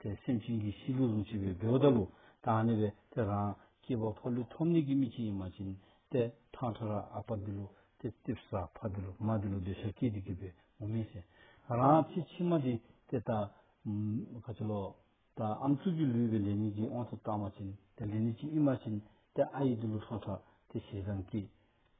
དེས་སེམས་ཅན་གྱི་གཤིས་ལུས་ལུས་བྱེད་པའི་བེའུ་ལྟ་ལུགས་དང་ནི་བས་དེ་རང་སྐྱེས་པ་ཕ་ལུས་ཐོབ་ནས་ཀྱི་མིག་གཅིག་ཡིན་མ་བྱིན་ཏེ་ཐག་ཁྲ་ར་ཨ་ཕ་འདི་ལུགས་ཏེ་ཏིབ་ས་ཕ་འདི་ལུགས་མ་འདི་ལུགས་འདོད་ཆགས་སྐྱེས་ཏེ་གྱུར་པས་མུ་མེད་ཟེར། རང་སྐྱེས་ཕྱི་མ་འདི་སྟེ་ད། ག་ཅི་ལོ། ད་ཨམ་གཙུག་གི་ལུས་པའི་ལས་ཉིད་ཀྱིས་དབང་དུ་བཏང་མ་བྱིན་ཏེ་ལས་ནི་གཅིག་ཡིན་མ་བྱིན་ཏེ་ཨ་ཡིག་འདི་ལུགས་ཁྲག་ཁྲ་སྟེ་ཞེ་སྡང་སྐྱེས།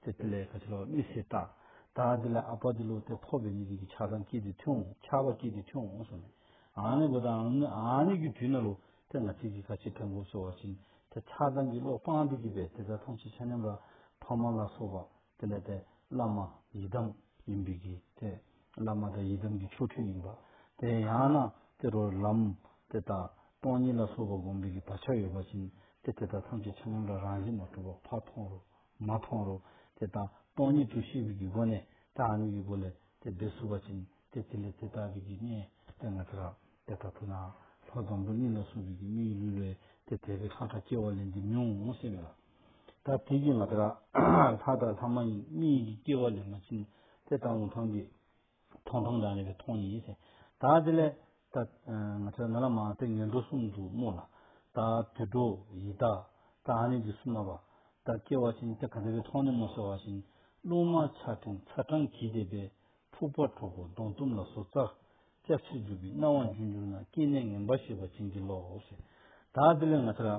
དེ་དེ་ལས་ག་ཅི་ལོག་མི་སྲིད་ད། ད་དེ་ལས་ཨ་པ་དེ་ལོག་དེ་ཕོག་པའི་མི་དེ་གི་ཆགས་སྡང་སྐྱིད་དེ་ཐུང་ཆགས་པ་སྐྱིད་དེ་ཐུང་སོང་ནས། ཨ་ནི་གོ་ད་ཨ་ནི་ཨ་ནི་གི་དུས་ན་ལོ་དེ་ང་ཅིག་གི་ག་ཅི་ཕན་གོ་སོ་བ་བཞིན་དེ་ཆགས་སྡང་གི་ལོག་སྤང་དེ་གི་བས་དེ་ད་ཐང་ཆི་ཆ་ཉམས་ར་ཕ་མ་ལ་སོགས་པ་དེ་ལས་དེ་བླ་མ་ཡི་དམ་ཡིན་པའི་གི་དེ་བླ་མ་དེ་ཡི་དམ་གི་ཆོ་འཕྲུལ་ཡིན་པ་དེ་ཡང་ན་དེ་རོ་ལམ་དེ་ད་སྟོང་ཉིད་ལ་སོགས་པ་བསྒོམ་པའི་གི་བག་ཆགས་ཡོད་པ་བཞིན་དེ་དེ་ད་ཐང་ཆི་ཆ་ཉམས་ར་རང་བཞིན་མ་གྲུབ་པ་ཕ་ཐོང་རོ། མ་མཐོང་རུང་དེ་དང་སྟོང་ཉིད་དུ་ཤེས་པའི་སྒོ་ནས་དེ་ཨ་ནུ་ཡི་སྒོ་ལས་དེ་སྦས་བསུ་བ་བྱིན་ཏེ་དེ་ལས་དེ་ལྟ་བུའི་དགེ་བསྙེན་ཏེ་ང་དེ་རག་པས་ད་ཐུག་ནའང་ལྷོ་བཟང་པོའི་གནས་ལ་སོགས་པའི་དགེ་བསྙེན་ལུས་ལས་དེ་དད་པའི་ལྷ་དང་སྐྱེ་བ་ལས་འདི་མྱོང་ངོ་ཤེས་པས་ལ། ད་དེ་བཞིན་ང་དེ་རག་ལྷ་དང་ལྷ་མ་ཡིན་མི་ཡིན་གྱི་སྐྱེ་བ་ལས་མ་བྱིན་ཏེ་ད་ལོ་མཐོང་གི། མཐོང་མཐོང་དང་ནི་བའི་མཐོང་ཡིན། ད་དེ་ལས། ང་ཚོ་ན་ལ་མ་ཏི་ངན་འགྲོ་གསུམ་དུ་སྨོས་ལ། ད་དུད་འགྲོ་ཡི་དྭགས་ད་ཨ་ནི་འདི་གསུམ་ན་བ། ད་སྐྱེ་བ་ཅན་ཏེ་ག་འདི་བའི་མཐོང་ནི་མོ་ཟེར་བ་བཞིན། རླུང་དམར་ཆགས་ཕྲེང་ཚ་གྲང་གིས་དེད་པས། འཁྲུག་པ་འཁྲུག་གོ་གདོང་གཏུམ་ལ་སོ་ཙག་ཙག་ཕྱིར་རྒྱུག་པའི་སྣང་བ་འཇུག་འགྱུར་ན་སྐྱེ་གནས་ངན་པ་ཞེས་པ་བྱིན་གྱིས་རློབས། ད་དེ་ལས་ང་ཚོ་ལ།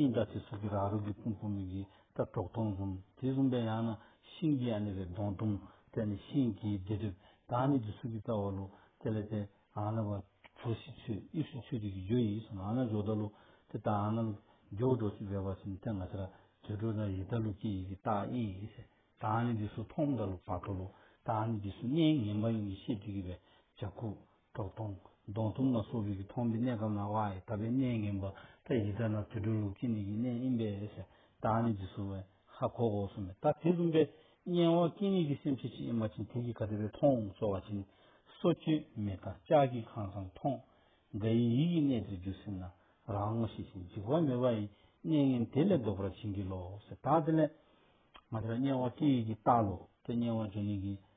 ཤིང་རྟ་དེ་སོགས་ཀྱི་ར་རོ་གི་ཕུང་པོ་མིག་གིས་ལྟ་གྲོགས་སྟོང་གསུམ་དེ་གསུམ་པའི་ཡང་ན་ཤིང་གི་ཡང་ནི་རེ་སྟོང་སྟོང་དེ་ནི་ཤིང་གི་སྡེ་སྒྲིབ་དང་ནི་དེ་སོགས་ཀྱི་རྩ་བ་ལོ་དེ་ལས་དེ་ཡང་ན་བ་གྲོ་བཞི་ཆུ་དབྱིབས་སུ་ཆུ་དུས་ཀྱི་རྒྱུ་ཡིས་ཡང་ན་ཇོ་ད་ལོ་དེ་དང་ཡང་ན་ལོ་རྒྱུ་བ་གྲོ་བཞི་བས་བ་བཞིན་དེ་ང་ཤ་ར་དེ་གྲོ་དང་ཡི་ད་ལོ་ཀྱི་ཡི་གི་རྟགས་དབྱིས་དང་ནི་དེ་སོགས་མཐོང་མཐའ་ལོ་བ་གྲོ་ལོ་དང་ནི་དེ་སོགས་གནས་ངན་པ་ཡིན་གྱི་ཤེས་དྲི་གི་བས་བྱ་ཁུ་དྲག་གདོང། གདོང་ཐུམ་ལ་སོགས་རིགས་ཀྱི་ཐོག་མའི་གནས་སྐབས་ན་བ་ཡི་དག་པའི་གནས་ངན་པ་ལྟ་ཡི་དག་ན་དུད་འགྲོའི་ལུགས་ཀྱི་ནི་ཡི་གནས་ཨིན་པས་ཨེ་སེ་ཏཱ་ནི་འདི་སུ་ཝེ་ཧ་གོ་གོ་སུ་མེ་ཏཱ་དེ་ཟུམ་པས་གཉེན་བ་ཀྱི་ནི་ཀྱི་སེམས་ཕྱེད་ཕྱེད་ཨེ་མ་ཕྱིན་དེ་ཀྱི་ག་དེ་བས་མཐོང་གསོ་བ་ཅི་ནི་སོ་སྐྱེས་མེ་ཏཱ་ལྕགས་ཀྱི་ཁང་བཟང་མཐོང། འགའ་ཡི་ཡིད་ཀྱི་གནས་དེར་འགྱུ་སེམས་ན་རང་ངོ་ཤེས་ཤིང་འཇིགས་པ་མེད་བ་ཡི་གནས་ངན་དེ་ལས་ལྡོག་པར་བྱིན་གྱིས་རློབས་སེ་ཏཱ་དེ་ལས། མ་དེ་ལ་གཉེན་བ་ཀྱི་ཡི་གི་ཏཱ་ལོ་ཏེ་གཉེན་བ་ཀྱི་ནི་ཀྱི་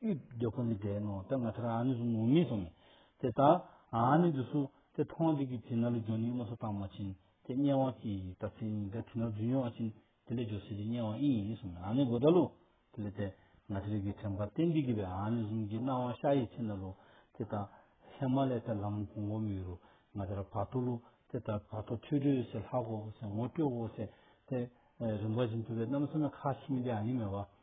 དབུས་བདེ་ཁོ་ནས་བསྒྲལ་ནོ་དེ་ང་ཐར་ཨ་ནི་སུ་ནོ་མི་སོང་ནས་དེ་དག་ཨ་ནི་དུ་སུ་དེ་ཐོང་དེ་གི་དེ་ན་ལུ་ཇོ་ནི་མོ་སོ་ཏང་མ་ཆིན་དེ་སྙན་དབང་ཀྱི་ད་ཚེ་ཡིན་དེ་དེ་ན་ལུ་ཇུན་ཡོ་ཨ་ཆིན་དེ་ལས་ཇོ་སི་ལི་སྙན་དབང་ཨི་ཡིན་སོང་ནས་ཨ་ནི་གོ་ད་ལུ་དེ་ལས་དེ་ང་ཐར་གི་དྲན་པ་ཏན་ཏིག་གི་བས་ཨ་ནི་གཟུང་གི་སྣང་བ་ཤ་ཡི་ཆེ་ན་ལུ་དེ་དག་ཧེ་མ་ལའི་ད་ལམ་གོང་བོ་མི་རུ་ང་ཐར་བ་ཏོ་ལུ་དེ་དག་བ་ཏོ་ཐུལ་སྤྲོས་སེ་ལྷག་གོ་སེ་ངོ་སྤྲོད་གོ་སེ་དེ་རིན་པ་ཅིན་ཐུ་བས་རྣམ་སེ་ན་ཁ་ཆིམ་དེ་ཨ་ནི་མེ་བ།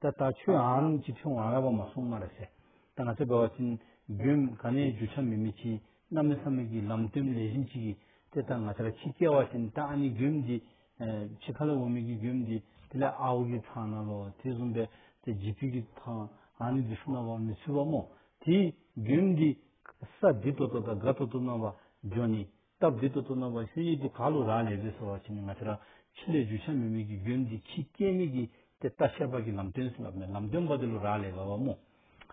ད་ལྟ་ཆོའམ་ཅི་ཕྱུང་བ་ལྔ་པོ་མ་སོང་མ་རེད་ཟེར་ད་ང་ཚོས་བོད་བ་ཅན་རྒྱུན་ག་ནས་རྒྱུ་ཆ་མི་མི་ཆིན་གནའ་མི་ས་མི་གི་ལམ་སྟོན་ལས་གཞིན་ཅིག་གིས་དེ་ད་ང་ཚོ་ལ་ཁྱི་སྐྱེ་བ་ཅན་ད་ཨ་ནི་རྒྱུན་འདི་ཆི་ཁ་ལ་བོ་མི་གི་རྒྱུན་འདི་དེ་ལས་ཨ་བོ་གི་ཐང་ན་ལོ་དེ་བཟུང་པས་དེ་རྗེ་ཕུད་གི་ཐང་ཨ་ནི་འདི་སུ་ན་བ་མི་ཚུད་པ་མོ་དེའི་རྒྱུན་འདི་ས་འདི་ཏོ་ཏོ་ད་ག་ཏོ་ཏོ་ན་བ་འཇོ་ནི་སྟབས་བདེ་དུ་གཏོང་ན་བ་ཤུ་ཡིས་དེ་ག་ལོ་རག་ལས་ཟེར་ཟེར་བ་བྱས་ནས་ང་ཚོ་རང་ཁྱི་ལས་རྒྱུ་ཆ་མེད་མོད་ཀྱི་རྒྱུན་འདི་ཁྱི་སྐྱེས་མེད་ཀྱི་དེ་ལྟ་ཤ་བག་གི་ལམ་སྟོན་ཟེར་བ་མེད་ལམ་སྟོན་བ་དེ་ལོ་རག་ལས་བ་བ་མོ་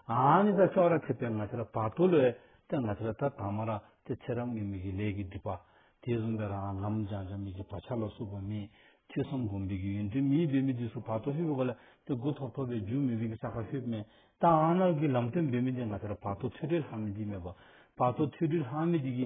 ཨང་ནི་ད་ཅོག་ར་ཁྲིད་པའི་ང་ཚོ་ར་བག་ཐུག་ལོ་ཨེ་ད་ང་ཚོ་ར་ད་དང་མ་ར་དེ་ཚེ་རབས་ངེས་མེད་ཀྱི་ལས་ཀྱི་སྒྲིབ་པ་དེ་བཟུང་པའི་རང་ལམ་སྦྱང་བྱ་མེད་ཀྱི་བག་ཆགས་ལ་སུབ་པ་མེད་ཐོས་བསམ་སྒོམ་སྡོད་ཀྱི་ཡུན་དུ་མིའི་འབད་མེད་དུས་སུ་བག་ཐོག་ཤུ་བོ་ག་ལ་དེ་དགུ་ཐོག་ཐོག་པའི་རྒྱུ་མེད་མོད་ཀྱི་ས་ག་ཤོད་མེད་ད་ཨང་ནག་གི་ལམ་སྟོན་འབད་མེད་དེ་ང་ཚོ་ར་བག་ཐོག་ཐོས་འཕྲོའི་ལྷག་མེད་དེ་མེད་པ་བག་ཐོག་ཐོས་འཕྲོའི་ལྷག་མེད་དེ་གི་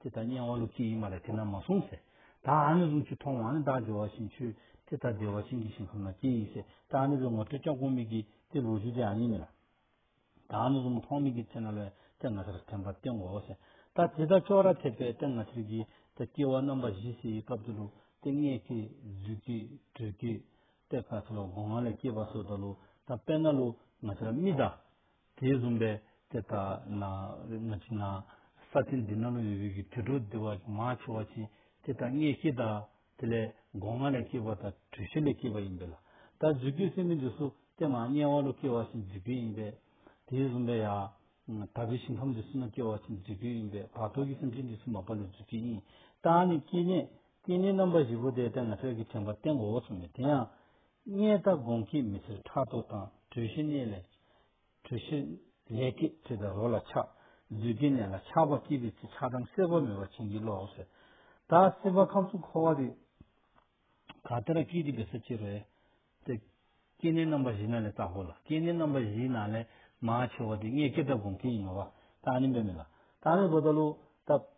དེ་དག་དམྱལ་བ་ལུགས་གཅིག་ཡིན་པ་ལས་དེ་རྣམས་མ་གསུངས་ཟེར། བདག་ཨ་ནི་རུ་ཆུ་མཐོང་བ་ནི་བདག་འཇོ་བ་བཞིན་ཆུ། དེ་ལྟར་བདེ་བ་ཤིང་གི་ཤིང་ཁམས་ན་སྐྱེ་ཡིས་ཟེར། བདག་ཨ་ནི་རུ་ངོ་སྤྲོད་ལྕགས་ཀོང་མིག་གིས་དེ་ལུགས་ཞུ་དེ་ཨ་ནི་མེད། བདག་ཨ་ནི་རུ་མཐོང་མིག་གིས་ཚེ་ན་ལོས་དེ་ང་ཚེར་ཐེམ་པར་བསྟན་གོ་ཟེར། བདག་དེ་དག་ཕྱོགས་ར་ཐེབས་པས་དེ་ང་ཚེར་གྱིས་དེ་སྐྱེ་བ་རྣམ་པ་བཞི་སྲིད་ཡི་སྐབས་དེ་ལུགས་དེ་སྔས་ཀྱི་རྫུས་ཀྱི་དྲོད་ཀྱི། གཏེར་ཁ་ཚེ་ལོ་སྒོང་ང་ལས་སྐྱེས་པ་སོགས་ད་ལུགས་དང་དཔེར་ན་ལུགས་ང་ཚེར་རྨི་ད། དེས་བཟུང་བས་དེ་ལྟ་ན་ང་ཅི་ན་ས་ཐིན་འདི་ན་ལོ་ཡོད་བུ་གི་དུད་འགྲོ་བདེ་བ་མ་ཆེ་བ་ཅི་དེ་དག་ངས་ཤེས་དང་དེ་ལས་སྒོ་ང་ལས་སྐྱེས་པ་དང་གྲུ་བཞི་ལས་སྐྱེས་པ་ཡིན་པས་ལ་ད་གཟུགས་ཀྱི་སེམས་མི་འདི་སུ་སྟེ་མ་དམྱལ་བ་ལོ་སྐྱེ་བ་བཞིན་འཇིག་རྒྱུ་ཡིན་པས་དེས་བཟུང་བས་ཡང་དག་པའི་ཞིང་ཁམས་འདི་སུ་ན་སྐྱེ་བ་བཞིན་འཇིག་རྒྱུ་ཡིན་པས་བར་དོ་གི་སེམས་ཅན་འདི་སུ་མ་པ་ལོ་འཇིག་རྒྱུ་ཡིན་ད་ནི་སྐྱེ་གནས་སྐྱེ་གནས་རྣམ་པ་བཞི་པོ་དེ་དེ་ང་ཤར་གྱི་དྲན་པ་སྟེང་འོག་སུ་མེད་དེ་ཡང་གཉེན་རྟ་སྒོང་སྐྱེས་མི་ཚེར་ཕྲག་དོག་དང་གྲོས་གཞི་གནས་ལས། གྲོས་གཞི་ལས་སྐད་ཁྲིད་དང་རོ་ལ་ཆགས། རྫུས་སྐྱེས་གནས་ལ་ཆགས་པ་སྐྱེས་པའི་ཚེ་ཆགས་སྡང་སེལ་བར་མོས་པ་བྱིན་གྱིས་རློབས། ཟད་མཐའ་སེལ་བ་ཁམས་གསུམ་འཁོར་བ་རིགས། ག་ཏི་ར་ཀི་ཏི་བེ་ས་ཅི་རོ་ཡ། སྟེ། སྐྱེ་གནས་རྣམ་པ་བཞི་ན་ལས་རྟག་གོ་ལ་སྐྱེ་གནས་རྣམ་པ་བཞི་ན་ལས་མ་ཆེ་བ་དེ་གཉེན་སྐྱེས་རྟ་སྒོང་སྐྱེས་ཡིན་ནོ་བ་ཏཱ་ནི་འབད་མེད་ལ། ཏཱ་ནི་རོ་ད་ལུ། ཏཱ།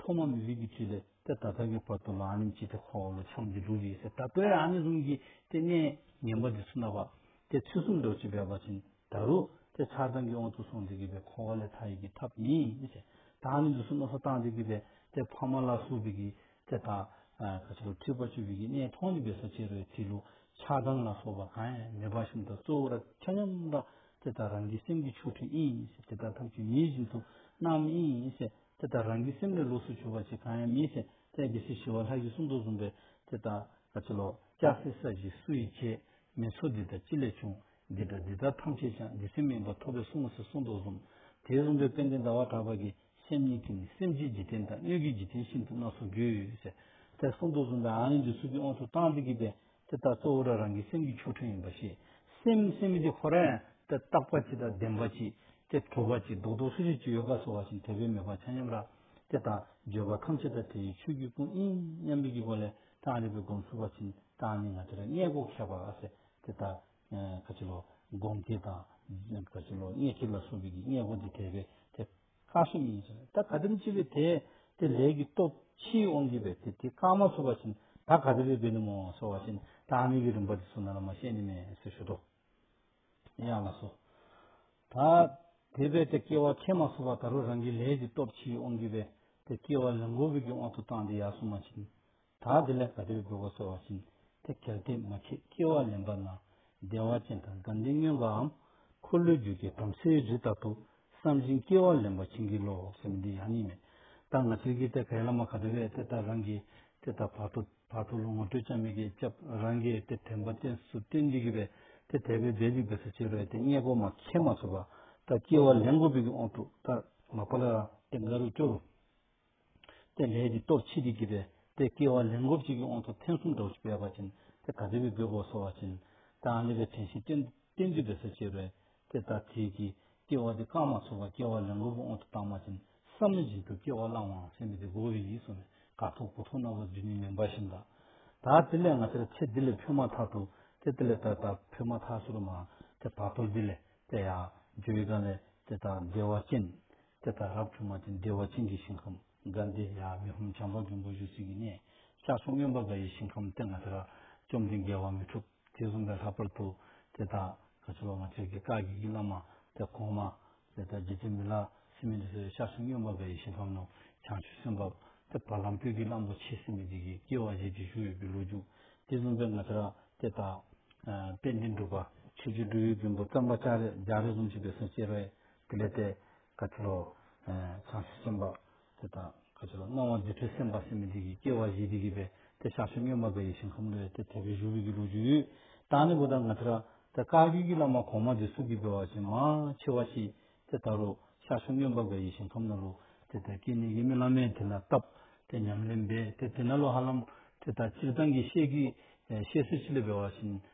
ཐོག་མ་མི་རིགས་ཀྱི་དུས་ལས་ཏེ་ད་ལྟ་གི་བར་དུ་ལའང་ནི་ཅི་སྟེ་ཁོ་བོ་ལ་ཆོམ་གྱི་ལུགས་ཡོད་ཟེར་ད་ལྟ་ཡང་ནི་རུང་གི་དེ་གནས་ངན་པ་འདི་ཚུ་ན་བ་དེ་ཚུལ་གསུམ་འདོད་ཅེས་བས་པ་བྱིན་ད་རུ་དེ་ཆགས་སྡང་གིས་འོང་དུ་སོང་འདི་གི་བས་ཁོ་བོ་ལས་མཐའ་ཡས་ཀྱི་ཐབས་མི་བྱེད་ད་ནི་འདི་ཚུ་ན་སོ་ཏང་འདི་གི་བས་དེ་ཕ་མ་ལ་སུ་བས་ཀྱི་དེ་ད་ག་ཆེ་རུ་ཁྲིད་པ་བཅུ་བས་ཀྱི་གནས་མཐོང་ནི་བས་ས་ཆེ་རུའི་དེ་ལུགས་ཆགས་སྡང་ལ་སོགས་པ་གང་ཡང་མེད་པ་བཞིན་དུ་གཙོ་བོ་ར་ཁྱ་སྙོམས་དང་དེ་ད་རང་གི་སེམས་ཀྱི་ཆོ་འཕྲུལ་ཨིན་ཟེར་དེ་ད་ཐབས་ཀྱི་མིའི་བཞིན་དུ་སྣང་མི་ཨིན་ཟེར། དེ་ལྟར་རང་གི་སེམས་ལས་ལོགས་སུ་གྱུར་པ་ཞིག་གང་ཡང་མེད་ཅིང་བཙལ་གྱི་སྲིད་ཞི་བ་ལྷ་ཡི་གསུང་དུ་བཟུང་བས་དེ་ལྟར་ག་ཅི་ལོག་སྐྱ་སེར་ས་བཞི་སུ་ཡིས་བྱས། མི་ཚོགས་འདི་དག་ཅི་ལས་བྱུང། འདི་དང་འདི་དག་ཐམས་ཅད་ཀྱང་འདི་སེམས་མིན་པར་ཐོབ་པས་གསུང་ངོ་ཞེས་གསུང་དུ་བཟུང། དེས་གསུངས་པའི་དཔེ་འདི་ཟླ་བ་གྲགས་པ་གིས་སེམས་ཉིད་ཀྱིས་ནི་སེམས་ཀྱི་འཇིག་རྟེན་དང་སྣོད་ཀྱི་འཇིག་རྟེན་ཤིན་ཏུ་སྣ་ཚོགས་རྒྱུ། ཞེས་དེ་གསུང་དུ་བཟུང་བས་ཨ་ལིང་གི་ཚུལ་གྱིས་དབང་དུ་བཏང་སྟེ་བགྱིས་པས་དེ་ལྟར་གཙོ་བོ་རང་རང་གི་སེམས་ཀྱི་ཆོ་འཕྲུལ་ཡིན་པ་ཞེས་སེམས་སེམས་ཀྱི་ཧོ་རན་ཏེ་རྟག་པ་ཅི་དང་ལྡན་པ་ཅི་སྟེ་གྲུབ་པ་ཅི་རྡོག་རྡོག་སུ་ཞིག་ཅི་ཡོད་ཀ་སོགས་བ་བཞིན་དད་པའི་མོས་པ་ཆ་མཉམ་ར་དེ་དང་བརྗོད་པ་ཐམས་ཅད་དང་དེ་ཡི་ཆོས་ཀྱི་སྐུ་ཨིན་སྙམ་པའི་སྒོ་ལས་གྲངས་རིག་པའི་སྒོམ་ཚུལ་བ་བཞིན་གྲངས་ནི་ང་དེ་ར་ལྔས་སྒོ་ཁྱབ་པ་ཨ་སེ་དེ་ལྟར་ག་ཅི་ལོ་སྒོམ་དེ་དང་ག་ཅི་ལོ་ལྔས་ཁྱབ་ལ་སོགས་པའི་ཀྱི་ལྔས་སྒོ་འདི་དད་པས་དད། རྐང་ཤིང་ཡིན་ཞིང་ད་ག་དིར་འཆི་བས་དེ་དེ་ལས་ཀྱི་སྟོབས་ཕྱིའི་དབང་གིས་པས་དེ་དེ་རྐང་མ་ཚུགས་པ་བཞིན་ད་ག་དིར་བས་ནི་མོ་སོ་བ་བཞིན་ད་ཨ་མི་གི་རིམ་པ་དེ་ཚུགས་ན་ལ་མ་ཤེས་ནི་མེད་ཟེར་ཞུ་དོ། ཡང་ལ་སོ། ད་དེ་བས་དེ་སྐྱེ་བ་ཕྱེད་མ་ཚུགས་པ་ད་རུ་རང་གི་ལས་ཀྱི་སྟོབས་ཕྱིའི་དབང་གིས་པས་དེ་སྐྱེ་བ་ལན་གོ་བས་ཀྱི་དབང་དུ་བཏང་སྟེ་ཡར་སུན་མ་ཕྱིན་དག་དེ་ལས་ག་དུས་འགྲོ་བ་སོལ་བ་བཞིན་དེ་གལ་ཏེ་མ་བྱེད་སྐྱེ་བ་ལེན་པ་ན་བདེ་བ་ཅན་དང་དགའ་འདུན་སྨྱོན་པའམ་འཁོར་ལོས་སྒྱུར་གྱི་དམ་སྲིའི་རི་ལྟ་བུ་བསམ་བཞིན་སྐྱེ་བ་ལེན་པ་བྱིན་གྱིས་རློབ་བོ་སེམས་འདི་ཡང་གཉིས་མེད་ལྟར་ང་ཚོའི་གིས་དེ་གའི་བླ་མ་ག་དུ་བས་དེ་ལྟར་རང་གིས་དེ་ལྟར་བར་དོ་བར་དོ་ལོ་ངོ་སྤྲོད་ཅང་མི་དགེས་བཅབ་རང་གིས་དེ་དྲན་པ་གཏན་སུ་བརྟེན་འགྲིག་གི་བས་དེ་དད་པའི་བས་རིག་པའི་སུ་བྱེད་རོལ་དེ་སྙད་གོ་མ་མཁས་མ་ཚོར་བ་ལྟར་སྐྱེ་བ་ལེན་དགོས་པའི་གི་འོང་ཐུག་ལྟར་མ་བར་ལ་དེ་འགའ་རུ་སྐྱོ་རུ། དེ་ལས་ཀྱི་སྟོབས་ཆེ་གེ་གེ་པས་དེ་སྐྱེ་བ་ལན་འགོབ་ཅིག་གི་དབང་དུ་ཐེངས་གསུམ་གྲོགས་སུ་བས་པ་བྱིན་དེ་ག་ཏི་བའི་སྦོས་པོ་སོ་བ་བྱིན་དང་ལེ་བའི་དྲན་ཤིང་སྐྲན་སྐྲན་འདུས་པའི་སོ་བྱེད་པས་དེ་ལྟར་དེས་ཀྱི་སྐྱེ་བ་དེ་བཀག་མ་ཚོར་བ་སྐྱེ་བ་ལན་འགོབ་པོ་དབང་དུ་བཏང་མ་བྱིན་བསམ་མི་བྱིན་དུ་སྐྱེ་བ་བླང་བའང་སེམས་མེད་དེ་འགོག་བའི་ཡིད་སོང་ནས་དགག་ཐོག་གོ་ཐོག་རྣ་བ་རྫུས་ནས་མེ་འབར་བཞིན་དག་དག་དེ་ལས་ང་ཚེར་ཚེ་འདི་ལས་འཕོས་མ་ཐག་ཏུ་དེ་དེ་ལས་ད་ད་འཕོས་མ་ཐག་སུ་རུ་མང་དེ་བར་དོར་འདི་ལས་དེ་ཡང་འགྱོད་ཡི་ག་ལས་དེ་དག་བདེ་བ་ཅན་དེ་ལྟར་རབ་བྱུང་མ་དེ་བདེ་བ་ཅན་གྱི་ཞིང་ཁམས་དགའ་བདེ་ཡང་མི་ཕམ་བྱམས་པ་མགོན་པོ་བཞུགས་སྲིད་ཀྱི་གནས་ཤར་གསུང་གཡོན་པ་འགའ་ཡི་ཞིང་ཁམས་སྟེང་ན་དེ་རབ་བཅོམ་ལྡན་འགལ་བ་མི་འཁྲུགས་དེ་བཟུང་བའི་ལྷག་པར་དུ་དེ་དག་ག་ཚོད་པ་མ་ཆགས་ཀྱི་བཀའ་བགྱིས་ཀྱི་བླ་མ་དེ་གོང་མ་དེ་ལྟར་བགྱིད་དེ་མི་ལ་སེམས་མི་འདུ་ཟེར་ཤར་གསུང་གཡོན་པ་འགའ་ཡི་ཞིང་ཁམས་ནང་བྱང་ཆུབ་སེམས་དཔའ་དེ་བར་ལམ་བསྐྱོད་ཀྱི་བླང་དོར་འཆད་སེམས་མི་བགྱིད་ཀྱི་སྐྱེ་བ་བཞེས་ཀྱི་བཞུགས་ཡོད་པའི་ལོ་རྒྱུས་དེ་བཟུང་བའི་ང་དེ་ར་དེ་དག། དཔལ་ལྡན་སྒྲུབ་པ་ཆོས་རྗེ་སྦྲུལ་ཡུལ་མགོན་པོ་བཀྲམ་པ་ལྕགས་རི་རྫོང་བྱིས་པའི་སེང་གཅེས་རའི་དེ་ལས་དེ་ག་ཚོད་ལོ། བྱང་ཆུབ་སེམས་དཔའ་དེ་དག་ག་ཚོད་ལོ། སྣང་བ་འདི་འཕྲོས་སེམས་དཔའ་སེམས་མེད་འདི་ཀྱིས་སྐྱེ་བ་བཞི་འདི་ཀྱིས་པས་དེ་ཞག་བཅུ་སྨྱོན་མ་པའི་ཡེ་ཤེས་ཁམས་ལོས་དེ་དེ་བས་བཞུ་བས་ཀྱི་ལོ་རྒྱུས། དང་ནི་བུ་དག་ང་ཚོ་དེ་བཀའ་བརྒྱུད་ཀྱི་བླ་མ་གོང་མ་འདི་སུ་གིས་སྤེལ་བ་ཅན་མ་ཕྱི་བ་ཞིག་དེ་ལྟར་རོ། ཞག་བཅུ་སྨྱོན་པ་པའི་ཡེ་ཤེས་ཁམས་ན་ལོ། དེ་དེ་སྐད་ནི་ཡིད་མི་བླ་མས་དེ་ལ་བཏབ། དེ་ཉམས་ལེན་པས་དེ་དེ་ན་ལོ་ཧ་ལམ་དེ་དག་སྤྱིར་བཏང་གི་བཤད་ཀྱི་བཤད་སྲོལ་སྤྱི་ལས་སྤེལ་བ་བཞིན་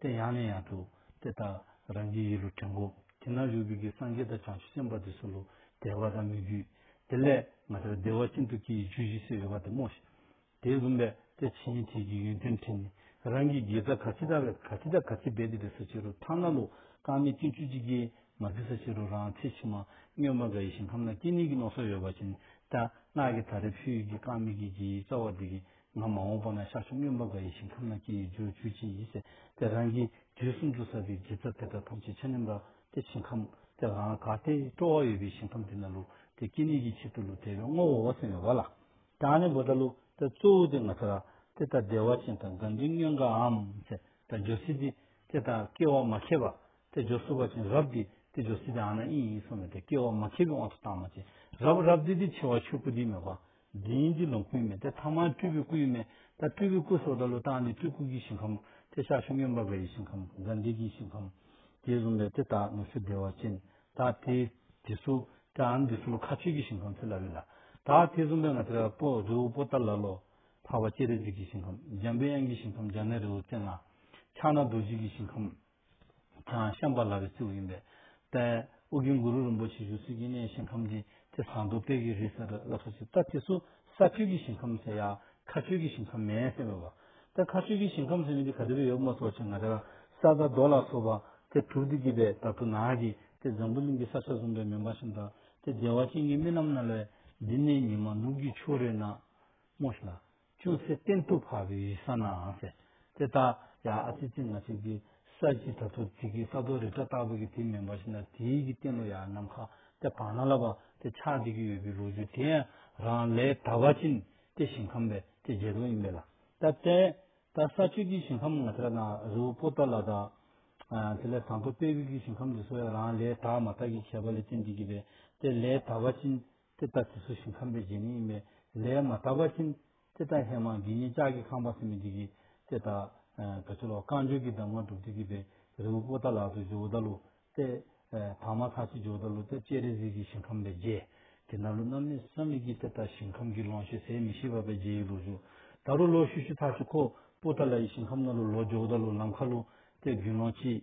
དེ་ཡང་ནས་ཡང་དུ་དེ་ལྟར་རང་རྒྱུད་ཡིད་ལུས་དྲན་གོ། དེ་རྣམས་རིག་པའི་རྒྱུད་སངས་རྒྱས་དང་བྱང་ཆུབ་སེམས་དཔའ་དེ་སུ་ལུས་བདེ་བ་དང་སྨིག་རྒྱུ། དེ་ལས་ང་ལྟར་བདེ་བ་ཅན་དུ་སྐྱེ་ཡི་རྒྱུ་བཞི་སེལ་བའི་བ་དེ་སྨྲོས་ཤིག། དེས་བུམ་པས་དེ་ཇི་སྙེད་དེ་ཀྱི་ཡོན་ཏན་དྲིས་ནས། རང་གི་དགེ་རྩ་ག་ཅི་དག་བས་ག་ཅི་དག་ག་ཅི་འབད་དེ་བྲི་ས་ཕྱི་རུ་ཐ་ན་ལོ་རྐང་མེད་སྐྱིན་བཅུ་གཅིག་ཀྱིས་མ་བྲི་ས་ཕྱི་རུ་རང་ཚེ་ཕྱི་མ་སྨྱོན་པ་འགའ་ཡིད་བཞིན་ཁམས་ན་སྐྱེ་གནས་ཀྱི་ནོར་སོགས་ཡོད་པ་བྱས་ནས་ལྟ། སྔགས་ཀྱི་དག་རེ་ཕུལ་ཡུལ་གྱི་རྐང་མིག་གི་དགེ་བའི་རྩ་བ་དེ་ཀྱིས་ང་མ་འོངས་པ་ན་ཤར་ཕྱོགས་སྨྱོན་པ་འགའ་ཡི་ཞིང་ཁམས་ན་སྐྱེ་ཡི་རྒྱུར་གྱུར་ཅིག་ཡིན་ཟེར་ཏེ་རང་གིས་དུས་གསུམ་དུ་བསགས་པའི་དགེ་རྩ་དེ་དག་ཐམས་ཅད་ཕྱི་ནས་འབབ་སྟེ་ཞིང་ཁམས་དེ་ལའང་དགའ་སྟེ་སྤྲོ་བ་ཡོད་པའི་ཞིང་ཁམས་དེ་ན་ལུས་དེ་སྐྱེ་གནས་ཀྱི་ཕྱིར་དུ་ལུས་དེ་བས་སྔོ་བོ་བོ་སེམས་བའི་བ་ལ་དྭངས་ནས་བུ་དང་ལུས་དེ་གཙོ་བོ་དེ་ང་ཚོ་ར་དེ་ལྟར་བདེ་བ་ཅན་དང་དགའ་འབྲིང་སྨྱོན་འགའ་འམ་ཟེར་ད་ཇོ་སི་ཏི་དེ་དང་སྐྱེ་བ་མ་ཁེབས་པ་དེ་ཇོ་སུ་བ་ཅན་རབ་དེ་དེ་ཇོ་སི་ཏི་ཨ་ན་ཨི་ཡིན་སོང་ནས་དེ་སྐྱེ་བ་མ་ཁེབས་པའི་དབང་དུ་བཏང་མ་ཅན་རབ་རབ་དེ་དེ་ཆེ་བ་ཆོས་སྐུ་དེའི་མོས་པ། འདི་ཡིན་འདི་ལོངས་སྐུའི་མེ་དེ་ཐ་མ་སྤྲུལ་པའི་སྐུ་ཡི་མེ་ད་སྤྲུལ་པའི་སྐུ་སོགས་ད་ལོ་བཏགས་ནས་སྤྲུལ་སྐུ་གྱི་ཞིང་ཁམས་དེ་ཤར་ཕྱོགས་མཉམ་པ་པའི་ཞིང་ཁམས་དགའ་འདུས་ཀྱི་ཞིང་ཁམས་ཀྱི་རུམ་པའི་དེ་དག་ནུབ་ཕྱོགས་བདེ་བ་ཅན་དག་དེ་དེ་སུ་དེའང་འདི་སུ་ལོ་ཁ་ཆོས་ཀྱི་ཞིང་ཁམས་ཚེ་ལ་བས་ལ་དག་དེའི་རུམ་པའི་ང་ཚེ་རལ་པོ་རི་བོ་པོ་ཏཱ་ལ་ལོ་འཕགས་པ་སྤྱན་རས་གཟིགས་ཀྱི་ཞིང་ཁམས་འཇམ་པའི་དབྱངས་ཀྱི་ཞིང་ཁམས་འཇམ་ནེ་རི་བོ་ཙན་ང་ཕྱག་ན་རྡོ་རྗེ་ཀྱི་ཞིང་ཁམས། ཤངས་པ་ལ་བའི་སྲས་ཡིན་པས། ཨོ་རྒྱན་གུ་རུ་རིན་པོ་ཆེ་བཞུགས་སའི་དཀྱིལ་ནས་ཞིང་ཁམས་ཀྱི་དེ་བཟང་དུ་དཔལ་གྱི་རི་ཟེར་བ་བསླབ་ས་ཅིག་ལྟ་དེ་སུ་ས་ཁྱོད་ཀྱི་ཞིང་ཁམས་ཟེར་ཡ་ཁ་ཁྱོད་ཀྱི་ཞིང་ཁམས་མེད་ཟེར་བས་བ། ད་ཁ་ཁྱོད་ཀྱི་ཞིང་ཁམས་ཟེར་ནས་འདི་ག་དེ་བས་ཡོད་མོ་སོགས་ཆེ་ང་རེ་བ་ས་དང་རྡོ་ལ་སོགས་པ་དེ་དྲུག་དེ་གྱིས་པས་ད་དུ་ན་གི་དེ་འཛམ་བུ་གླིང་གི་ས་ཆ་བཟུང་པའི་མེ་འབར་ཞིང་དང་དེ་བདེ་བ་ཅན་གྱི་རྨི་ལམ་ན་ལས་འདི་ནས་ཉི་མ་ནུབ་ཀྱི་ཕྱོགས་རེ་ན་རྨོ་ཞིང། ཅུང་ཟད་བརྟན་དུ་བབས་པའི་ས་ནའང་ཟེར། དེ་ལྟར་ཡང་ཨ་ཙི་ཙི་ནག་ཆུ་འདི་ས་གཞི་དྲ་ཐོག་ཚིག་གི་ས་རྡོ་རི་བྲག་ལྟ་བུ་གི་དེ་མིན་པ་ཞིག་ན་དེའི་གི་སྟེང་ལོ་ཡག་ནམ་མཁའ་དེ་བག་ན་ལ་བ་དེ་ཆགས་བསྡད་ཀྱི་ཡོད་པའི་ལོ་རྒྱུས་དེ་ཡང་རང་ལས་གྲྭ་བ་ཅན་དེ་ཞིང་ཁམས་པའི་དེ་རྗེས་ལུང་ཡིན་པས་ལ་ད་བལྟས་ད་ས་ཆོས་ཀྱི་ཞིང་ཁམས་ང་ཚ་དང་རི་བོ་པོ་ཏོ་ལ་དང། དེ་ལས་དང་པོ་དཔལ་བེའུ་གི་ཞིང་ཁམས་འདི་སོགས་ཡང་རང་ལས་གྲྭ་མ་དག་གིས་བྱས་པ་ལས་བསྟན་བསྡད་ཀྱི་རེད་དེ་ལས་གྲྭ་བ་ཅན་དེ་ལྟ་དེ་སུ་ཞིག་ཁམས་པའི་རྗེ་ནི་ཡིན་པས་ལས་མ་དག་པ་བཞིན། དེ་ལྟ་ཧེ་མ་དགེ་བསྙེན་ལྕགས་ཀྱི་ཁང་པ་སེམས་མི་འཇིགས་ཀྱི། དེ་ལྟ། དགྲ་བཅོམ་ལོ་རྐང་བཅུ་གྱི་གདམས་ངག་སྒྲུབ་བྱེད་ཀྱི་པའི། རི་བོ་པོ་ཏཱ་ལ་དུ་ཇོ་བོ་ཏཱ་ལུ། ཏེ། དྭངས་མ་ཐང་ཆེན་ཇོ་བོ་ཏཱ་ལུ་སྟེ་སྤྱན་རས་གཟིགས་ཀྱི་ཞིང་ཁམས་པའི་རྗེ། དེ་ན་ལོ་རྣམ་གནས་བསམ་མེད་ཀྱིས་དེ་ལྟར་ཞིང་ཁམས་ཀྱི་ལོངས་སྤྱོད་ཟད་མི་ཤེས་པ་པའི་རྗེ་ཡི་ལུགས་སུ། ད་རུང་ལོ་བཞི་བཞི་ཐག་ཆུ་ཁོ། པོ་ཏཱ་ལ་ཡི་ཞིང་ཁམས་ན་ལུ་ལོ་ཇོ་བོ་ཏཱ་ལུ་ལམ་ཁ་ལུ། སྟེ་རྒྱུན་ལོངས་སྤྱི།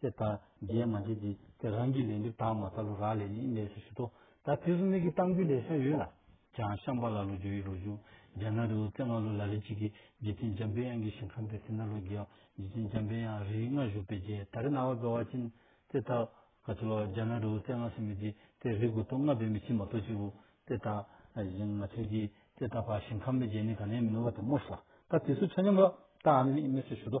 ཅེས་དང། རྗེས་མ་འདི་དེ་དེ་རང་གི་ལས་འདི་དག་མ་ཐག་ལོ་རག་ལས་ནི་གནས་སུ་ཞུགས་ཏོ། ད་དེ་སུ་ནི་གི་གཏམ་རྒྱུད་ལས་ཤར་ཡོད་ལ། བྱང་ཤམ་བྷ་ལ་ལོ་རྒྱུ་ཡི་རོ་བཞུགས་རྒྱ་ནག་རི་བོ་རྩེ་ལྔ་ལོ་ལ་རི་གཅིག་གིས་འཇིག་རྟེན་འཇམ་དཔལ་དབྱངས་ཀྱི་ཞིང་ཁམས་པའི་ཐིག་ནག་ལོ་བརྒྱད་འོག་འཇིག་རྟེན་འཇམ་དཔལ་དབྱངས་རིའི་མངའ་བཞུགས་པའི་རྗེས་ད་རི་ནང་བ་སྦེ་བ་ཅིན། ཅེས་དང། ག་ཚོད་ལོ་རྒྱ་ནག་རི་བོ་རྩེ་ལྔ་སུ་མི་དེ་དེ་རི་དགུ་སྟོང་ལྔ་བས་མི་ཕྱིན་མ་གཏོགས་ཅི་བུ། ཅེས་དང། གཞན་ང་ཚོས་ཀྱིས་ཅེས་དང་བར་ཞིང་ཁམས་པའི་རྗེས་ནི་ག་ནས་མི་ནོར་བ་དེ་སྨོས་སོ། ད་དེ་སུ་ཆ་སྙོམས་ལོ་རྟ་ཨ་ནི་ནི་གནས་སུ་ཞུགས་ཏོ།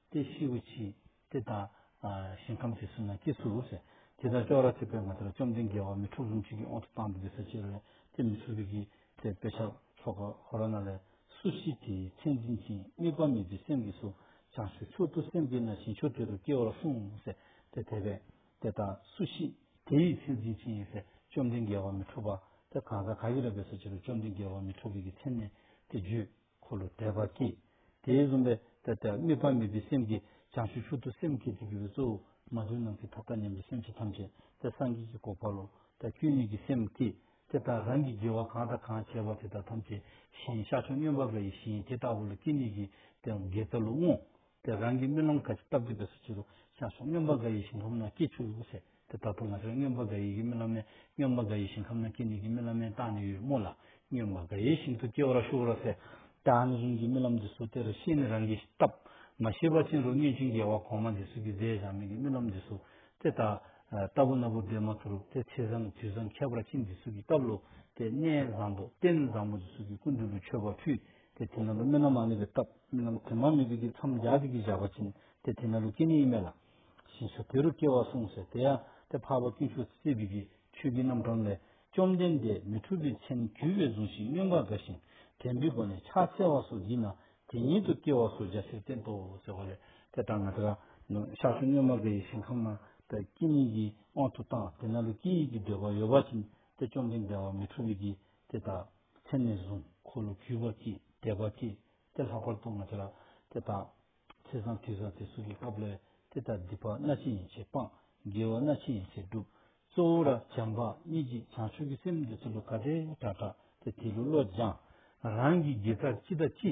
ཏེ་ཤི་བུ་ཆི། ཏེ་དང། ཞིང་ཁམས་ཀྱི་སུ་ན་སྐྱེ་ཚུལ་ལོ། ཞེས་དེ་ལྟར་ཅོག་ར་ཐིག་པའི་ངོ་ཚ་ལ་བཅོམ་ལྡན་རྒྱལ་བ་མི་འཁྲུགས་ལྷུན་གྱིས་ཀྱི་དབང་དུ་བཏང་སྟེ་འདི་ས་ཕྱི་རོལ་ཏེ་མི་ཚུགས་ཀྱི། ཏེ་དཔེ་ཆ་ཚོགས་པ་ཧོ་ར་ན་ལས། སུ་ཞིག་དེའི་མཚན་འཛིན་ཅིང་དམིགས་པ་མེད་པའི་སེམས་ཀྱིས་སུ། བྱང་ཆུབ་མཆོག་ཏུ་སེམས་བསྐྱེད་ན་བཞིན་མཆོག་དེ་རུ་སྐྱེའོ་གསུངས། ཞེས་ཏེ་དེ་བས། ཏེ་དང། སུ་ཞིག། དེའི་མཚན་འཛིན་ཅིང། ཞེས་བཅོམ་ལྡན་རྒྱལ་བ་མི་འཁྲུགས་པ། ཏེ་གང་ཟག་ག་ཡིས་རབ་པའི་ས་ཕྱི་རུ་བཅོམ་ལྡན་རྒྱལ་བ་མི་འཁྲུགས་པའི་ཚེ་ནི། ཏེ་རྒྱུད། འཁོར་ལོ་བཟླས་པར་གྱིས། དེའི་བཟུང་བས་ཏེ་ཏེ། དམིགས་པ་མེད་པའི་སེམས་ཀྱིས་བྱང་ཆུབ་ཤུགས་ཏུ་སེམས་བསྐྱེད་དེ་དགེ་བའི་གཙོ་བོ་མ་བདུན་ནམ་མཁའི་མཐའ་དག་མཉམ་པའི་སེམས་ཅན་ཐམས་ཅད་དེ་སངས་རྒྱས་ཀྱི་གོ་འཕང་ལོ། ད་སྐྱོན་ཉིད་ཀྱི་སེམས་བསྐྱེད་དེ་ལྟ་རང་གིས་དགེ་བ་གང་དང་གང་བྱས་པ་དེ་དག་ཐམས་ཅད་ཞིང་བཤགས་ཆོས་མཉན་པ་འགའ་ཡི་ཞིང་དེ་ལྟ་བུ་ལ་སྐྱེ་ནུས་ཀྱི་དེའང་དགེ་རྩ་ལུགས་བསྔོ། དེ་རང་གི་རྨི་ལམ་ག་ཅིག་སྟབས་བདེ་བས་སུ་བྱེད་དུ་ཆགས་སོང་སྨྱོན་པ་འགའ་ཡི་ཞིང་ཁམས་ན་སྐྱིད་ཆུ་ཡོད་ཟེར་དེ་ལྟ་བུ་ང་ཚོའི་སྨྱོན་པ་འགའ་ཡི་གི་རྨི་ལམ་ནས་སྨྱོན་པ་འགའ་ཡི་ཞིང་ཁམས་ན་སྐྱིད་ནི་གི་རྨི་ལམ་མན་རྟགས་ནི་ཡོད་རྨོ་ལ་སྨྱོན་པ་འགའ་ཡི་ཞིང་དུ་སྐྱེ་བར་ཤོག་ར་ཟེར་དེ་ཨ་ནི་རིང་གི་རྨི་ལམ་འདི་སུ་དེར་ཤེས་ནི་རང་གི་སྟབས་མ་ཤེས་པ་ཅན་རུ་སྨྱོན་ཅིང་རྒྱལ་བ་གོང་མ་འདི་སུ་གི་མཛད་བཞག་མི་གི་རྨི་ལམ་འདི་སུ་དེ་ལྟ་ལྟ་བུ་སྣ་བུག་འདེད་མ་ཐུར་དེ་ཚེས་བཟང་དུས་བཟང་ཁྱད་པར་ཅན་འདི་སུ་གི་སྟབས་ལོ་དེ་གནས་བཟང་པོ་རྟེན་བཟང་པོ་འདི་སུ་གི་སྐུ་མདུན་དུ་མཆོད་པ་ཕུལ། དེ་དེ་ན་ལུ་སྨན་ན་མ་ནི་པའི་སྟབས་སྨན་ན་ལུ་དེ་མ་མི་བི་གི་མཚམས་རྒྱ་བི་གི་བཞག་པ་བྱིན་དེ་དེ་ན་ལུ་སྐྱེ་ནི་ཡི་མེ་ལ། ཞེས་སོ་དེ་རུ་སྐྱེ་བ་གསུངས་སོ་དེ་ཡང་དེ་འཕགས་པ་སྐྱོན་ཤུགས་བསེ་བི་གི་ཆོས་ཀི་རྣམ་གྲངས་ལས་བཅོམ་ལྡན་འདས་མི་འཁྲུལ་པའི་མཚན་གུས་པས་བཟུང་ཞིང་སྨྱོན་པར་དགའ་ཞིང་དྲན་བི་བ་ནི་ཕྱག་འཚལ་བ་སོགས་བགྱིས་ན་དེ་ཉིད་དུ་སྐྱེ་བ་སོགས་རྒྱ་ཆེར་བསྟན་ཏོ་ཟེར་བ་ལས་དེ་ལྟར་ན་དེ་ལ་ཤར་ཕྱོགས་སྨྱོན་མ་དགའ་ཡི་ཞིང་ཁམས་ན་དེ་སྐྱེ་ནི་ཡི་དབང་དུ་བཏང་དེ་ན་ལུ་སྐྱེ་ཡི་གི་འདོད་པ་ཡོད་པ་བྱིན་དེ་བཅོམ་ལྡན་འདས་བ་མི་འཁྲུལ་བི་གི་དེ་དག་མཚན་མས་བཟུང། འཁོར་ལོ་བརྒྱུད་པར་གྱིས་བཟླས་པར་གྱིས་ཏེ་ལྷག་པར་གཏོང་བར་བྱ། དེ་དག་ཚེས་བཟང་དུས་བཟང་སྟེ་སུག་གི་སྐབས་ལས། དེ་ལྟར་སྡིག་པ་སྣ་ཆེན་ཡན་ཆད་སྤངས། དགེ་བ་སྣ་ཆེན་ཡན་ཆད་བསྒྲུབ། གཙོ་བོ་ར་བྱམས་པ་གཉིས་ཀྱིས་བྱང་ཆུབ་ཀྱི་སེམས་འདི་ཚུལ་ལོ་ཀ་དེ་དགྲ་དྲག་སྟེ་དེ་ལུས་བློ་སྦྱངས། རང་གི་དགེ་རྩར་ཅི་ལྟ་ཅི།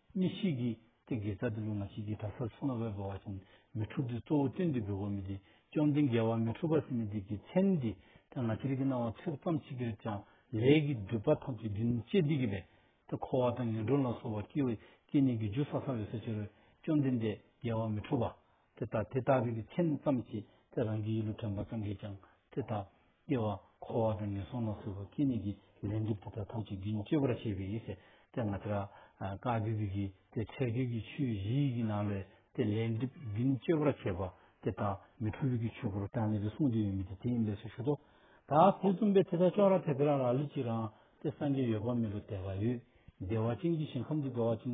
གཉིས་ཤིག་གིས་ཏེ་དགེ་རྩ་དེ་ལུགས་ན་ཞིག་གིས་གྲྭ་སར་སོང་ན་བས་བོ་བ་བཞིན་མི་འཁྲུགས་ཏེ་གཙོ་བོ་སྟོན་དུས་བས་བོ་མི་དེ་བཅོམ་ལྡན་དགེ་བ་མི་འཁྲུགས་པ་སེམས་མི་དེ་གི་མཚན་འདི་དེ་ང་ཅིར་གི་སྣང་བ་ཚོད་ཙམ་ཞིག་གིར་ཀྱང་ལས་ཀྱི་སྒྲིབ་པ་ཐམས་ཅད་བདུན་བཅས་འདི་གི་བས་ཏེ་འཁོར་བ་དང་ངན་འགྲོ་ལ་སོགས་པ་སྐྱེ་བའི་སྐྱེ་གནས་ཀྱི་རྒྱུ་ས་ས་བས་སོ་ཅིར་བཅོམ་ལྡན་འདས་དགེ་བ་མི་འཁྲུགས་པ། དེ་ལྟ་དེ་ལྟ་བུའི་མཚན་མོ་ཙམ་གྱིས་དེ་རང་གི་ཡིད་ལུས་དྲན་པ་ཙམ་གྱིས་ཀྱང་དེ་ལྟ། སྐྱེ་བ་འཁོར་བ་དང་ངན་སོང་ལ་སོགས་པ་སྐྱེ་གནས་ཀྱི་ལས་འགྲུབ་དེ་དག་ཐམས་ཅད་རྒྱུན་གཅོད་པར་བྱེད་པའི་ཡེ་ཤེས་དེ་ང་ཏྲ་ཀ་བི་བི་ཀི་སྟེ་ཁྲེགས་ཆོད་ཀྱི་ཆོས་བཞི་ཡི་གེ་ནང་ལས་དེ་ལས་འགྲུབ་རྒྱུན་གཅོད་པར་བྱེད་པ་དེ་དག་མི་འཁྲུལ་བའི་ཆོས་སྐུ་རུ་དྲན་ནས་རེ་ཟུང་དེ་ཡོད་མེད་དེ་དེའི་ལས་སུ་ཞུགས་སོ། ད་དེ་བཙུམས་པས་དེ་དག་ཅོག་ར་དེ་དེ་རང་རང་ལུས་ཀྱི་རང་སྟེ་སངས་རྒྱས་ཡོད་པ་མེད་པ་དད་པ་ཡོད་བདེ་བ་ཅན་གྱི་ཞིང་ཁམས་ཀྱི་དགའ་བ་ཅན་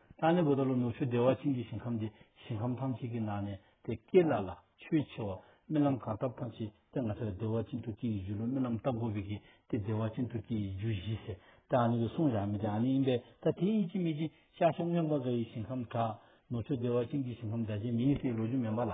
ལྷ་ནི་བུ་ད་ལོ་ནུ་ཞོ་བདེ་བ་ཅན་གྱི་ཞིང་ཁམས་ཏེ་ཞིང་ཁམས་ཐམས་ཅད་ཀྱི་ནང་ནས་དེ་སྐད་ལ་ལ་ཆོས་ཆེ་བ་རྨི་ལམ་གང་བཏབ་ཐམས་ཅད་དེ་ང་ཚ་ལ་བདེ་བ་ཅན་ཐུགས་ཀྱི་ཡུལ་ལོ་རྨི་ལམ་བཏབ་དགོས་པས་ཀྱི་དེ་བདེ་བ་ཅན་ཐུགས་ཀྱི་ཡུལ་བཞི་ཟེར་ཏེ་ཨ་ནི་གི་གསུང་བཞག་མི་དེ་ཨ་ནི་ཡིན་པས་ད་དེ་ཡིན་གྱི་མེད་ཀྱི་ཤར་ཕྱོགས་སྨྱོན་པ་འགའ་ཡི་ཞིང་ཁམས་དྲག་ནུ་ཞོ་བདེ་བ་ཅན་གྱི་ཞིང་ཁམས་འདྲ་ཅན་མི་ཡིན་སའི་ལོ་རྒྱུས་མེད་པ་ལ།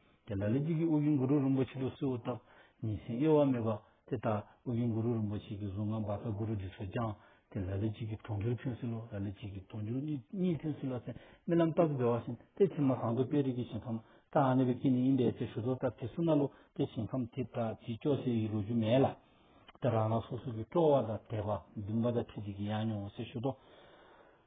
དེ་ལ་ལས་ཀྱི་དབུ་རྒྱུན་གུ་རུ་རིན་པོ་ཆེ་ལུགས་སུ་བཏབ། ཉིན་བཞིན་གཡོ་བ་མེད་པ། དེ་ལྟར་དབུ་རྒྱུན་གུ་རུ་རིན་པོ་ཆེ་གི་གཟུངས་སྔགས་འབར་ཁར་གུ་རུ་འདི་ཚོས་བསྐྱངས། དེ་ལ་ལས་ཀྱི་གི་གྲོང་ཁྱེར་ཁྱོད་སུ་ལོ་ལ་ལས་ཀྱི་གི་གྲོང་ཁྱེར་གཉིས་ཁྱོད་སུ་ལ་སེམས་རྨི་ལམ་ལྟ་བུ་བདེ་བ་བཞིན་ཏེ་ཕྱི་མ་གང་དུ་དཔལ་རིགས་ཀྱི་ཞིང་ཁམས་ལྟ་ཨ་ནེ་བའི་དཀྱིལ་ནི་ཨིན་པའི་ཆེ་ཞུ་རྡོར་ལྟར་དེ་སུ་ན་ལོ་ཏེ་ཞིང་ཁམས་དེ་དག་གི་ཅོག་ཙེ་ཡི་ལོ་རྒྱུས་མེད་ལ། དེ་རང་རང་སོ་སོ་གི་སྤྲོ་བ་དང་དད་པ་འདུན་པ་དང་ཁྲིད་ཅིག་གི་ཡང་མྱོང་བ་སེ་ཞུ་རྡོ།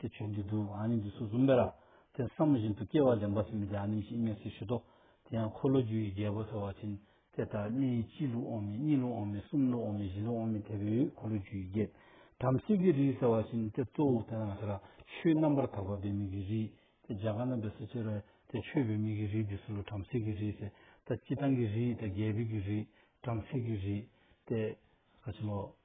དེ་ཆོས་འདི་དུ་ཨ་ནི་འདི་སོ་གསུམ་པས་ར་དེ་བསམ་བཞིན་དུ་སྐྱེ་བ་ལེན་པ་སེམས་ཀྱི་ཨ་ནི་ཞེས་སྨྲས་སུ་བཞེད་དོ། དེ་ཡང་འཁོར་ལོ་རྒྱུ་ཡི་རྒྱལ་པོ་ཟེར་བ་བཞིན་དེ་ལྟར་གནས་ཡིག་གཅིག་ལུགས་འོག་མིན་གཉིས་ལུགས་འོག་མིན་གསུམ་ལུགས་འོག་མིན་བཞི་ལུགས་འོག་མིན་དེ་བས་འཁོར་ལོ་རྒྱུ་ཡི་རྒྱལ། བྲམ་ཟེ་ཀྱི་རིགས་ཟེར་བ་བཞིན་དེ་གཙོ་བོ་དེ་དང་དེ་ལ་ཆོས་རྣམ་པར་དག་པ་འབད་མེད་ཀྱི་རིགས་དེ་རྒྱ་གར་ན་འབད་སྲོལ་ཆེར་བས་དེ་ཆོས་འབད་མེད་ཀྱི་རིགས་འདི་སྲོལ་ལོ་བྲམ་ཟེ་ཀྱི་རིགས་ཟེར་ད་སྤྱི་བཏང་གི་རིགས་ད་རྒྱལ་པོའི་རྒྱུ་རིགས་བྲམ་ཟེ་ཀྱི་རིགས་ཏེ། བཀའ་ཆེན་ལོ།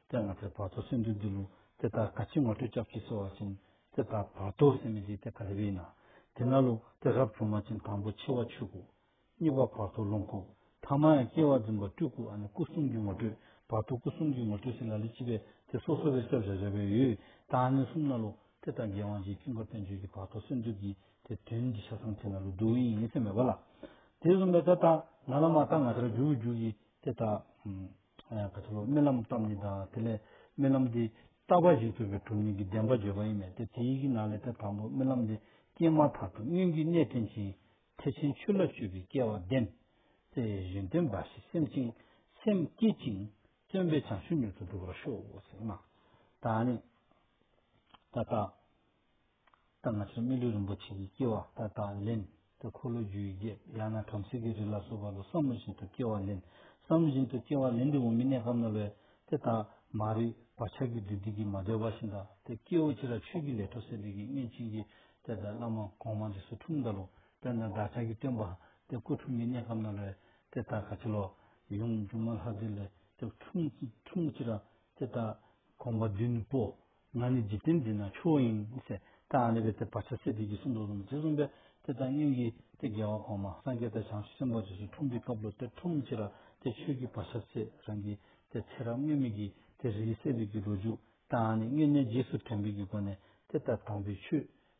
དེ་ང་ཚོས་བར་དོ་སེམས་འདུལ་འདི་ལུགས་དེ་ལྟར་དགའ་ཆེན་ངོ་སྤྲོད་སྐྱབས་ཀྱིས་གསོལ་བ་བྱིན། དེ་ལྟར་བར་དོའི་སེམས་མི་འཇིགས་དེ་ག་ལ་བས་ན། དེ་ན་ལུགས་དེ་རབ་བྱུང་མ་ཅིང་དང་པོ་འཆི་བ་ཆོས་སྐུ། གཉིས་པ་བར་དོ་ལོངས་སྐུ། ཐ་མ་ཡང་སྐྱེ་བ་འཛིན་པ་སྤྲུལ་སྐུ་ཨ་ནི་སྐུ་གསུམ་གྱི་ངོ་སྤྲོད་བར་དོ་སྐུ་གསུམ་གྱི་ངོ་སྤྲོད་སྲིད་ལ་ལི་ཅི་བས་དེ་སོ་སོ་བའི་སྐྱབས་རེ་རེ་བའི་ཡུལ་དང་ཨ་ནི་གསུམ་ན་ལུགས་དེ་ལྟར་རྒྱལ་དབང་རྗེའི་ཁྱུང་དཀར་བསྟན་བཅོས་ཀྱི་བར་དོ་སེམས་འདུལ་གྱི་དེ་དོན་གྱི་ཆ་ཚང་དེ་ན་ལུགས་འདུལ་བའི་ཡིན་ཚད་མེད་པ་ལ། དེ་གསུམ་པའི་དེ་ལྟར་ན་ལ་མ་ལྟར་ང་ལྟར་འགྱུར་འགྱུར་གྱི་དེ་ལྟར། གལ་ཏེ་རྨི་ལམ་ཙམ་ཉིད་དང་དེ་ལས་རྨི་ལམ་དེས་རྟག་པ་ཞིག་ཐོབ་པའི་གྲུབ་བརྙེས་ཀྱི་བདེན་པ་བརྗོད་པ་ཡིན་མོད་དེ་དེ་ཡི་གི་ན་ལས་དེ་དང་པོ་རྨི་ལམ་དེ་སྐྱེས་མ་ཐག་ཏུ་སྔོན་གྱི་གནས་བསྟེན་ཅིང་ཐེག་ཆེན་ཆོས་ལ་སྤྱོད་པའི་སྐལ་བ་ལྡན། ཏེ་ཡོན་ཏན་འབའ་ཞིག་སེམས་ཅན་སེམས་བསྐྱེད་ཅིང་བརྩོན་པས་བྱང་ཆུབ་མྱུར་དུ་འགྲུབ་པར་ཤོག། ད་ནི། ད་ལྟ། ད་ང་ཚོས་སྨིན་ལུས་རིན་པོ་ཆེ་ཡི་སྐྱེ་བ་ད་ལྟ་ལེན། ད་འཁོར་ལོ་རྒྱུ་ཡི་རྒྱབ་ཡང་ན་བྲམ་ཟེ་གི་རི་ལ་སོགས་པ་ལ་བསམ་བློ་བཞིན་དུ་སྐྱེ་བ་ལེན། བསམ་བློ་བཞིན་དུ་སྐྱེ་བ་ལེན་འདི་འོ་མི་གནས་སྐབས་ན་ལོས། དེ་ལྟ་མ་རིག་བག་ཆགས་ཀྱི་བདུད་སྡིག་གིས་མ་བསྒྲལ་བ་བཞིན་དང་དེ་སྐྱེ་བོ་ཁྱེད་ར་ཆོས་ཀྱི་ལས་འཕྲོ་སད་འདི་གིས་མངལ་ཕྱིན་གྱིས། དེ་ལྟ་བླ་མ་གོང་མ་འདི་སུ་འཁྲུངས་འདི་ལོ། དཔལ་དང་བདག་ཅག་གི་སྟོན་པ། དེ་སྐུ་འཁྲུངས་མི་གནས་སྐབས་ན་ལོས། དེ་ལྟ་ག་ཕྱི་ལོ། ཡུམ་འབྱུང་མ་ལྷ་འདི་ལས། དེ་འཁྲུངས་ཅི་ར། དེ་ལྟ་གོང་མ་བདུད་ནི་པོ། ང་ནི་འཇིག་རྟེན་འདི་ན་མཆོག་ཡིན། ཞེས་ཏཱ་ཨ་ནི་པའི་སྟེ་བར་ཆད་སེལ་བདུད་ཀྱི་སྲུང་འདོར་ལུང་དེ་གསུངས་པས་དེ་ལྟར་སྙིང་གི་སྟེ་རྒྱལ་བ་གོང་མ་སངས་རྒྱས་དང་བྱང་ཆུབ་སེམས་དཔའ་ཇི་བཞིན་འཁྲུངས་པའི་སྐབས་ལོ་སྟེ་ཁྲུམས་ཕྱི་ར་སྟེ་ཆོས་ཀྱི་བར་ཆད་སེལ་རང་གི་སྟེ་ཚེ་རབས་སྔོན་མེད་ཀྱི་སྟེ་རིའི་སྲས་བདུད་ཀྱི་རོ་བཅུག་ཏཱ་ཨ་ནི་མངལ་གནས་རྗེས་སུ་དྲན་པའི་གི་སྒོ་ནས་དེ་ལྟར་དྲངས་པའི་ཆུས།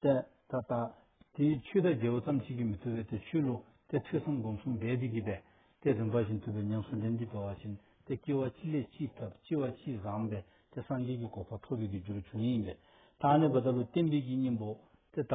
ཏེ། ད་ལྟ། དེའི་ཆུས་ད་རྒྱལ་བོ་ཙམ་བྱེད་ཀྱི་མི་ཐུབ་པས་དེ་ཆུས་བླུག། ཏེ་ཐོས་བསམ་སྒོམ་གསུམ་འབད་དེ་བགྱིས་པས། ཏེ་རིམ་པ་བཞིན་ཐུབ་པའི་ཉམས་སུ་ལེན་གྱིས་འགྲོ་བ་བཞིན། ཏེ་སྐྱེ་བ་ཅི་ལས་ཅི་ཐབས་ལྕི་བ་ཅི་བཟང་བས། ཏེ་སངས་རྒྱས་ཀྱི་གོ་འཕང་ཐོབ་པའི་གྱི་རྒྱུར་འབྱུང་ཡིན་པས། དང་ནི་བ་ད་ལུ་བསྟན་པའི་གྱི་སྙིང་པོ། ཏེ། ད།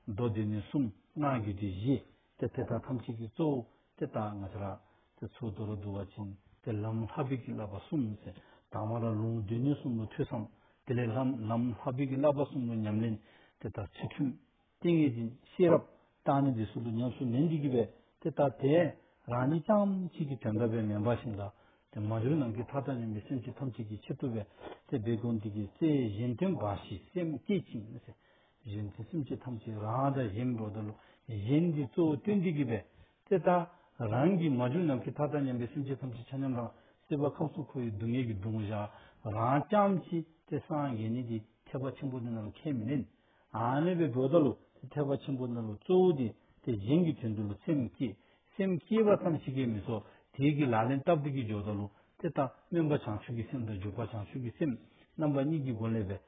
མདོ་སྡེ་ནི་གསུམ་སྔགས་རྒྱུད་སྡེ་བཞི། དེ་དེ་དག་ཐམས་ཅད་ཀྱི་གཙོ་བོ་དེ་ལྟ་ང་ཅི་ར། དེ་ཚུར་དུ་རོ་བསྡུ་བ་བྱིན། དེ་ལམ་ལྷ་བུད་ཀྱི་བསླབ་པ་གསུམ་ཚེ་དང་བ་ལ་ལུང་བསྡུས་ནས་གསུམ་ལོ་ཐོས་སམ། དེ་ལས་ལྷ་ལམ་ལྷ་བུད་ཀྱི་བསླབ་པ་གསུམ་ལོ་ཉམས་ལེན་དེ་དག་ཚུལ་ཁྲིམས་ཏིང་ངེ་འཛིན་ཤེས་རབ་དག་ནི་འདི་སུ་ལུ་ཉམས་སུ་ལེན་འདི་གྱིས་པས་དེ་ལྟ་སྟེ། རང་ཉིད་ཀྱང་ཕྱིས་ཀྱི་དོན་དམ་པའི་མེ་འབར་བཞིན་དག་དེ་མ་འགྱུར་ནང་གི་མཐའ་དག་ནི་མི་སེམས་ཀྱི་ཐམས་ཅད་ཀྱི་ཕྱིར་ཐུབ་པས་དེ་སྦས་དགོངས་འདི་གྱིས་སའི་གཞན་དོན་འབའ་ཞིག་སེམས་བསྐྱེད་ཅིང། གཞན་གྱི་སེམས་ཅན་ཐམས་ཅད་རང་དང་གཞན་མི་འགྲོགས་ལྟ་ལོ། གཞན་གྱི་གཙོ་བོ་སྟོན་བདེ་གྱིས་པས་དེ་ལྟ། རང་གིས་མ་བྱུང་ནམ་མཁའི་མཐའ་དང་མཉམ་པའི་སེམས་ཅན་ཐམས་ཅད་ཆ་མཉམ་རང་སྲིད་པ་ཁམས་གསུམ་འཁོར་བའི་སྡུག་བསྔལ་གྱི་སྡུག་བསྔལ་བཞག་རང་བསྐྱང་ཅི། དེ་སངས་རྒྱས་ནི་དེའི་ཐེག་པ་ཆེན་པོ་དེ་རྣམས་ལ་ཁས་མི་ལེན། འང་མེད་པའི་སྒྲོ་ལྟ་ལོ། དེ་ཐེག་པ་ཆེན་པོ་རྣམས་ལ་གཙོ་བོ་སྟེ་དེ་གཞན་གྱི་དོན་དུ་ལ་སེམས་བསྐྱེད། སེམས་བསྐྱེད་པ་ཙམ་གྱིས་ཀས་མི་སོ། དེའི་གིས་ལག་ལེན་སྟབས་བདེ་གྱིས་འཇོག་ལྟ་ལོ། དེ་ལྟ་སྨོན་པ་བྱང་ཆུབ་ཀྱི་སེམས་དང་འཇུག་པ་བྱང་ཆུབ་ཀྱི་སེམས་རྣམ་པ་གཉིས་ཀྱི་སྒོ་ལས་པས